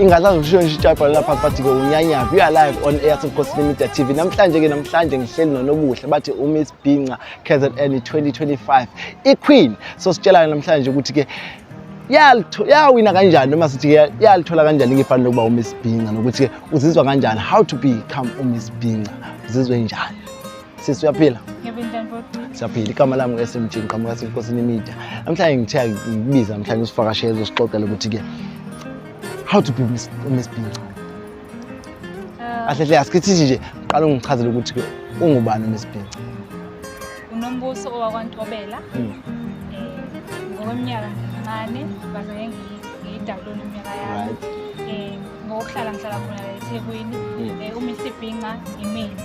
ingasazoshona nje ijabha lapha bathi-ke unyanyaphi you are live on air sebukhosini media t v namhlanje-ke namhlanje ngihleli nonobuhle bathi umiss binca kzn 2025 iqueen so sitshelana namhlanje ukuthi-ke yawina kanjani noma sithi-ke yalithola kanjani ngefani lokuba umiss binca nokuthi-ke uzizwa kanjani how to become umiss binca uzizwe njani Sisi uyaphila? Siyaphila. Igama lami ngu-SMG ngiqhamuka senkosini media. Namhlanje ngithiya ngikubiza namhlanje usivakashele uzosixoxela ukuthi ke how to be Miss Miss Pinca. Ah. Ahle hle asikithi nje qala ungichazele ukuthi ke ungubani Miss Pinca. Unombuso owakwaNtobela. Hmm. Eh ngokweminyaka ngincane baze ngiyidalula iminyaka yami. Eh ngokuhlala ngihlala khona eThekwini. Hmm. Eh uMr Pinca imini.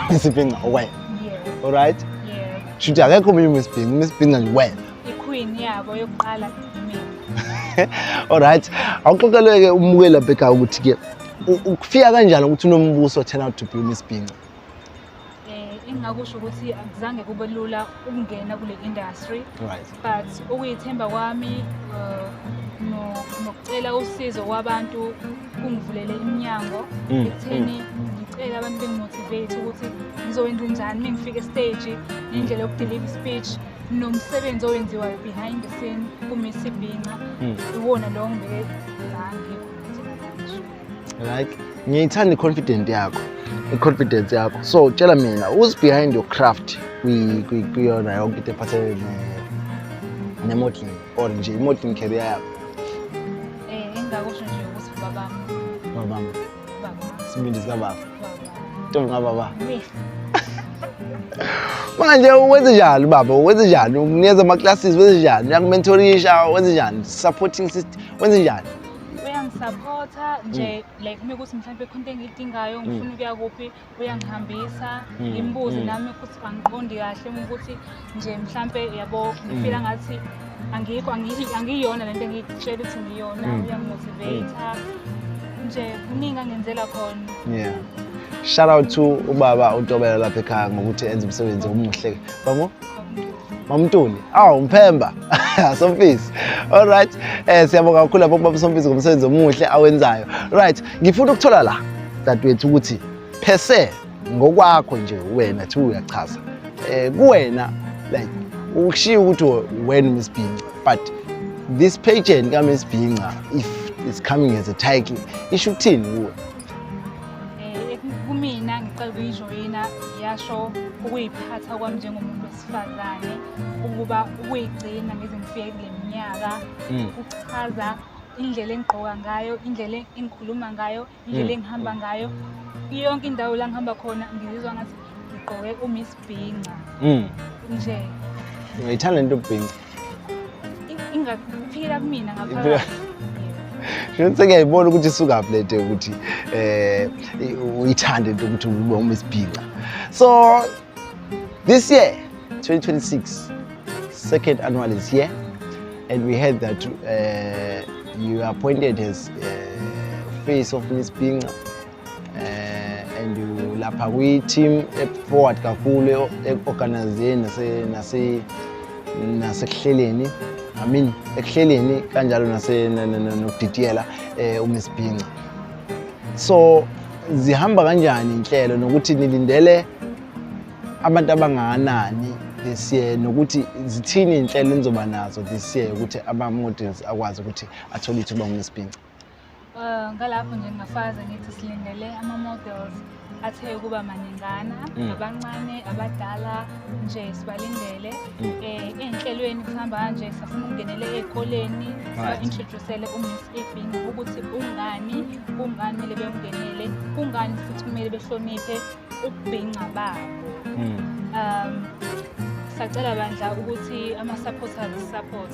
Isibhinca wena. Yeah. Alright? Yeah. Shuthi akekho omunye uMsibhinca, uMsibhinca nje wena. Iqueen yabo yokuqala mina. Alright. Awuxoxeleke umukeli abheka ukuthi ke ukufika kanjani ukuthi unombuso turn out to be uMsibhinca? Eh, engingakusho ukuthi akuzange kube lula ukungena kule industry. Right. but ukuyithemba kwami uh, nokucela usizo kwabantu kungivulele iminyango mm, ekutheni mm. ngicele abantu bengimotivate ukuthi ngizokwenza njani uma ngifika esiteji nendlela yokudeliva ispeech nomsebenzi owenziwayo behind the scene kumisi ibhinca mm. iwona lowo ngibeke like ngiyithanda i-confident yakho i-confidence yakho so tshela mina who's behind your craft kuyona yonke into ephathelene ne-modeling or nje i-modeling career yakho eh, engingakusho nje ukuthi babami babami sibindi sikababa ntombi kababa manje wenze njani baba wenze njani unikeza ama-classes wenze njani uyakumentorisha wenze njani supporting system wenze njani uyangisapotha nje mm. like uma kuthi mhlawumbe khona into engiyidingayo mm. ngifuna ukuya kuphi uyangihambisa mm. ngimbuze nami ukuthi angiqondi kahle uma ukuthi nje mhlawumbe yabo ngifila ngathi angikho angiyona le nto engiyitshela ukuthi ngiyona uyamotivate nje kuningi angenzela khona yeah shout out to ubaba utobela lapha ekhaya ngokuthi enze umsebenzi omuhle babo Mamtuli. Awu mphemba. Somfisi. All right. Eh siyabonga kakhulu lapho baba Somfisi ngomsebenzi omuhle awenzayo. Right. Ngifuna ukuthola la dadwethu ukuthi phese ngokwakho nje wena thi uyachaza. Eh kuwena like ukushiya ukuthi wena Miss Bhinca but this pageant ka Miss Bhinca if is coming as a title isho ukuthini kuwe Eh, kumina ngicela ukuyijoyina yasho ukuyiphatha kwami njengomuntu wesifazane ukuba ukuyigcina ngize ngifike kule minyaka Mm. kuchaza indlela engigqoka ngayo indlela engikhuluma ngayo indlela Mm. engihamba ngayo yonke indawo la ngihamba khona ngizizwa ngathi ngigqoke umiss ukubhinca Mm. nje Ngiyithanda into ubhinci. i- ingaphila kumina Iphila- ngaphakathi Shona sengiyayibona ukuthi isukaphi le nto yokuthi eh i- uyithande into ukuthi ube uma isibhinca. So this year 2026 second annual is here and we heard that uh, you are appointed as uh, face of Miss Binga eh and lapha kwi team e forward kakhulu e organization nase nase nasekuhleleni I mean ekuhleleni kanjalo nase nokudidiyela eh uMsibhinca so zihamba kanjani inhlelo nokuthi nilindele abantu abangakanani this year nokuthi zithini inhlelo enizoba nazo this year ukuthi ama-models akwazi ukuthi athole ithuba ngumesibhinca Eh, ngalapho nje ngingafaza ngithi silindele ama-models athe ukuba maningana mm. abancane abadala nje sibalindele um ey'nhlelweni kuhamba kanje safuna ukungenele ey'koleni siba-introducele umiss ebin ukuthi kungani kungani kumele bemngenele kungani futhi kumele behloniphe ukubhinca babo um sacela bandla ukuthi ama-supporters support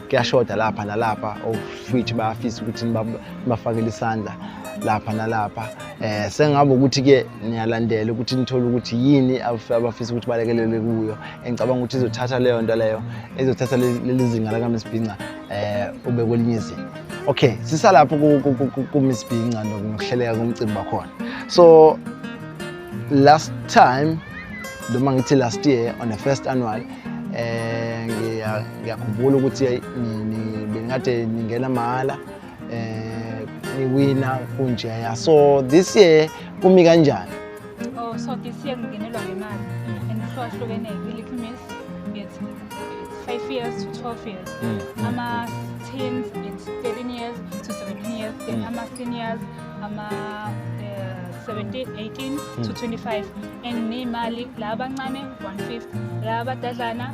kuyashoda lapha nalapha of which bayafisa ukuthi nibafakele isandla lapha nalapha eh sengabe ukuthi ke niyalandela ukuthi nithole ukuthi yini abafisa ukuthi balekelele kuyo engicabanga ukuthi izothatha leyo nto leyo izothatha leli zinga lakaMsibhinca eh ube kwelinye izinga okay sisalapho kuMsibhinca nokuhleleka komcimbi wakhona so last time noma ngithi last year on the first annual eh ngiya ngiyakhumbula ukuthi bengikade ningena mahhala eh niwina kunjeya so this year kumi kanjani oh so this year ngingenelwa ngemali mm. and kuhlukahlukene i-little miss it's 5 years to 12 years mm. ama teens it's 13 years to 17 years then mm. ama seniors ama eh, 17 18 to 25 and nemali la abancane 150 la abadadlana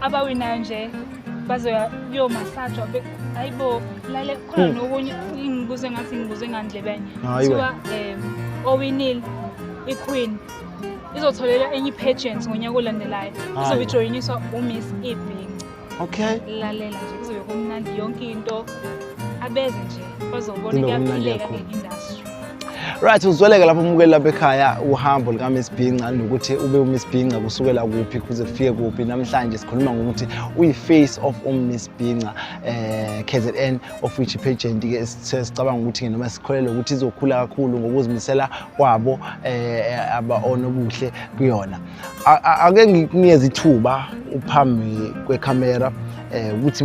abawinayo nje bazoya kuyomasajwa hayi bo lale khona hmm. nokunye ingibuze ngathi ngibuze ngandlebene kuthiwa um owinile iqueen izotholela enye i-pageant ngonyaka olandelayo izobe ijoyiniswa umiss ebing okay lalela nje kuzobe kumnandi yonke into abeze nje bazobona kuyaphileka nge-industry Right uzweleke lapho umukeli lapha ekhaya uhambo lika Miss Bhinca nokuthi ube u Miss Bhinca kusukela kuphi kuze kufike kuphi namhlanje sikhuluma ngokuthi uyi face of um Miss Bhinca eh KZN of which pageant ke sicabanga ukuthi noma sikholele ukuthi izokhula kakhulu ngokuzimisela kwabo eh aba onobuhle kuyona ake ngikunikeze ithuba uphambi kwecamera eh ukuthi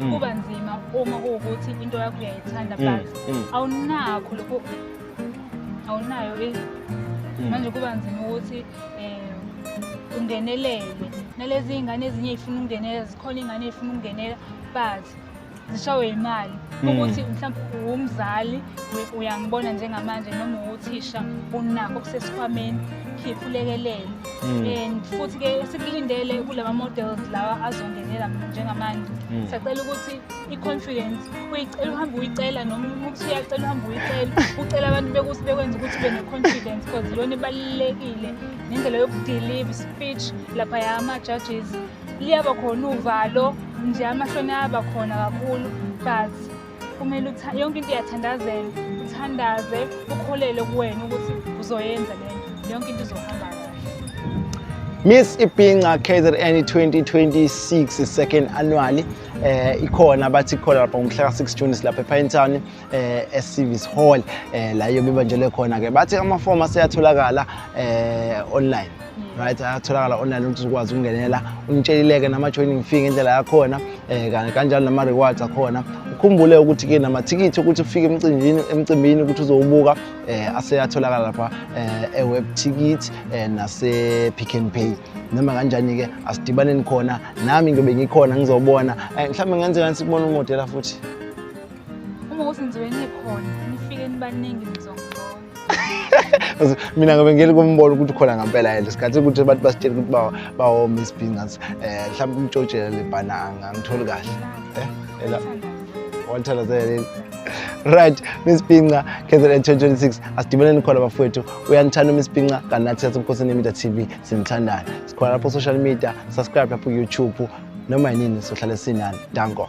Mm. kuba nzima uma kuwukuthi into yakho uyayithanda Mm, but mm. awunakho lokho awunayo i- Mm. manje kuba nzima ukuthi um ungenelele nalezi iy'ngane ezinye ey'funa ukungenela zikhona iy'ngane ey'funa ukungenela but zishawe yimali Mm. ukuthi mhlawumbe uwumzali u- uyangibona njengamanje noma uwuthisha unakho okusesikhwameni khipha ulekelele Mm. and futhi ke sikulindele kulama models lawa azongenela njengamanje mm. sacela ukuthi i-confidence uyicela uhambe uyicela noma ukuthi uyacela uhambe uyicela ucela abantu bekuthi bekwenza ukuthi ube ne-confidence because iyona ibalulekile nendlela yokudelive speech lapha ya ama-judges liyaba khona uvalo nje amahloni ayaba khona kakhulu but kumele uthi yonke into iyathandazela uthandaze ukholele kuwena ukuthi uzoyenza le nto yonke into izohamba kahle Miss Ipinca KZN 2026 second annually eh ikhona bathi khona lapha ngomhla ka6 June silapha ePine Town eh eSivis Hall eh la yobe banjele khona ke bathi ama form aseyatholakala eh online right ayatholakala online ukuthi uzokwazi ukungenela ungitshelileke nama-joining fee ngendlela yakhona um kanjalo nama-rewards akhona ukhumbule ukuthi-ke namathikithi ukuthi ufike emcimbini emcimbini ukuthi uzowubuka um aseyatholakala lapha um eweb ticket um nase-pick and pay noma kanjani-ke asidibaneni khona nami ngiyobe ngikhona ngizobona um mhlawumbe ngenze kani sikubona umodela futhi uma ukuthi ngizobe ngikhona nifike nibaningi mina ngabe ngeli kumbona ukuthi khona ngampela yena isikhathi ukuthi abantu basitshela ukuthi bawoma isibhingas um eh, mhlawumbe umtshotshela le bhananga angitholi kahle eh, ela wathandazele right miss pinca kzn 2026 asidibeleni khona bafowethu uyanithanda umiss pinca kanti nathi sasemkhosini yemedia tv sinithandana sikhona lapho social media subscribe lapho youtube noma yinini sohlale sinani danko